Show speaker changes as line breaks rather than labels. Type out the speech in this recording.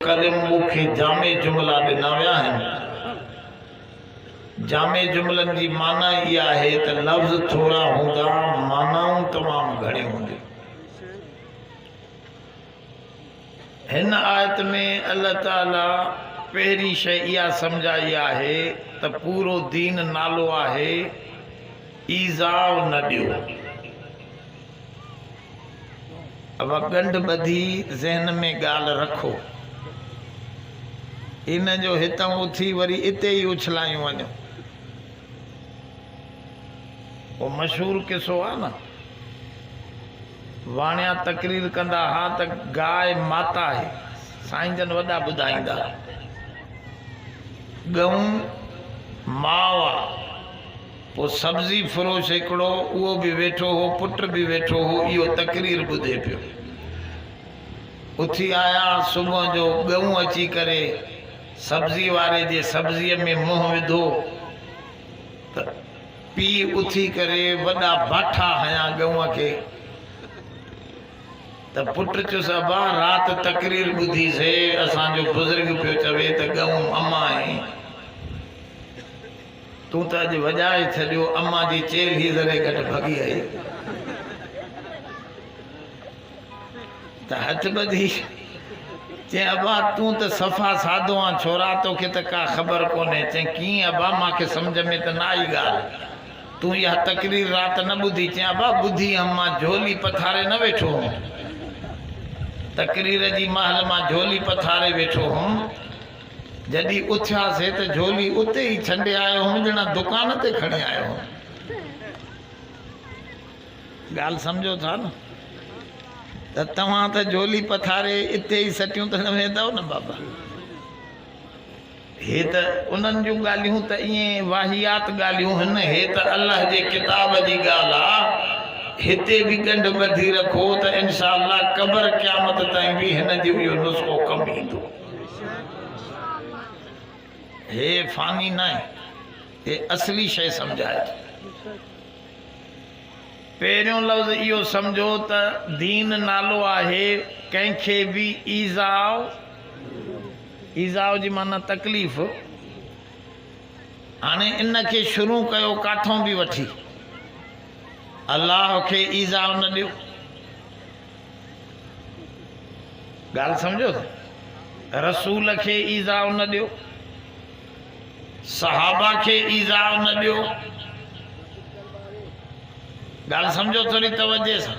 ڪريم مون کي جامع جملا ڏنا ويا آهن. جامع جملن جي معنيٰ اها آهي ته لفظ ٿورا هوندا، معنائون تمام گهڻيون هونديون. هن آيت ۾ الله تعاليٰ پهرين شيء اها سمجهائي آهي ته پورو دين نالو آهي، ايذاء نه ڏيو. اھا ڳنڍ ٻڌي ذھن ۾ ڳالھه رکو. ان جو ھتان اٿي وري اتي ئي اڇلايون وڃو. اھو مشھور قصو آھي نه. واڻيا تقرير ڪندا ھا ته گاء ماتا آھي. سائين جن وڏا ٻڌائيندا ھا. ڳئون ماء آ. ڪو سبزي فروش هڪڙو اهو به ويٺو هو، پٽ به ويٺو هو، اهو تقرير ٻڌي پيو. اٿي آيا، صبح جو ڳئون اچي ڪري سبزي واري جي سبزيء ۾ منهن وڌو ته پيء اٿي ڪري وڏا باٺا هنيا ڳئون کي ته پٽ چيس ابا رات تقرير ٻڌي سي، اسان جو بزرگ پيو چوي ته ڳئون امان آهي. تون ته اڄ وڄائي ڇڏيو. امان جي چيل هي ذري گهٽ ڀڳي آئي ته هٿ ٻڌي چين ابا تون ته صفا سادو آن ڇورا توکي ته ڪا خبر ڪونهي چين ڪيئن ابا مان کي سمجهه ۾ ته نه آئي ڳالهه تون اها تقرير رات نه ٻڌي چين ابا ٻڌي هم مان جهولي پٿاري نه ويٺو هوم تقرير جي مهل مان جهولي پٿاري ويٺو هوم. جڏهن اٿياسين ته جھولي اتي ئي ڇڏي آيو ھوم جھڙا دڪان تي کڻي آيو ھوم. ڳالھ سمجھو ٿا نه ته توھان ته جھولي پٿاري اتي ئي سٽيون تڻ ويندؤ نه بابا. ھي ته انھن جون ڳالھيون ته ائين واھيات ڳالھيون ھن ھي ته الله جي ڪتاب جي ڳالھ آ ھتي به ڳنڍ ٻڌي رکو ته انشاء الله قبر قيامت تائين به ھن جو اھو نسخو ڪم ايندو. هي فاني ناهي، هي اصلي شيء سمجهائي ٿو. پهريون لفظ اهو سمجهو ته دين نالو آهي ڪنهن کي به ايذاء، ايذاء جي معنيٰ تڪليف، هاڻي ان کي شروع ڪيو ڪاٿئون به وٺي، الله کي ايذاء نه ڏيو. ڳالهه سمجهو ٿا رسول کي ايذاء نه ڏيو صحابه کي ايذاء نه ڏيو ڳالهه سمجهو ٿوري توجه سان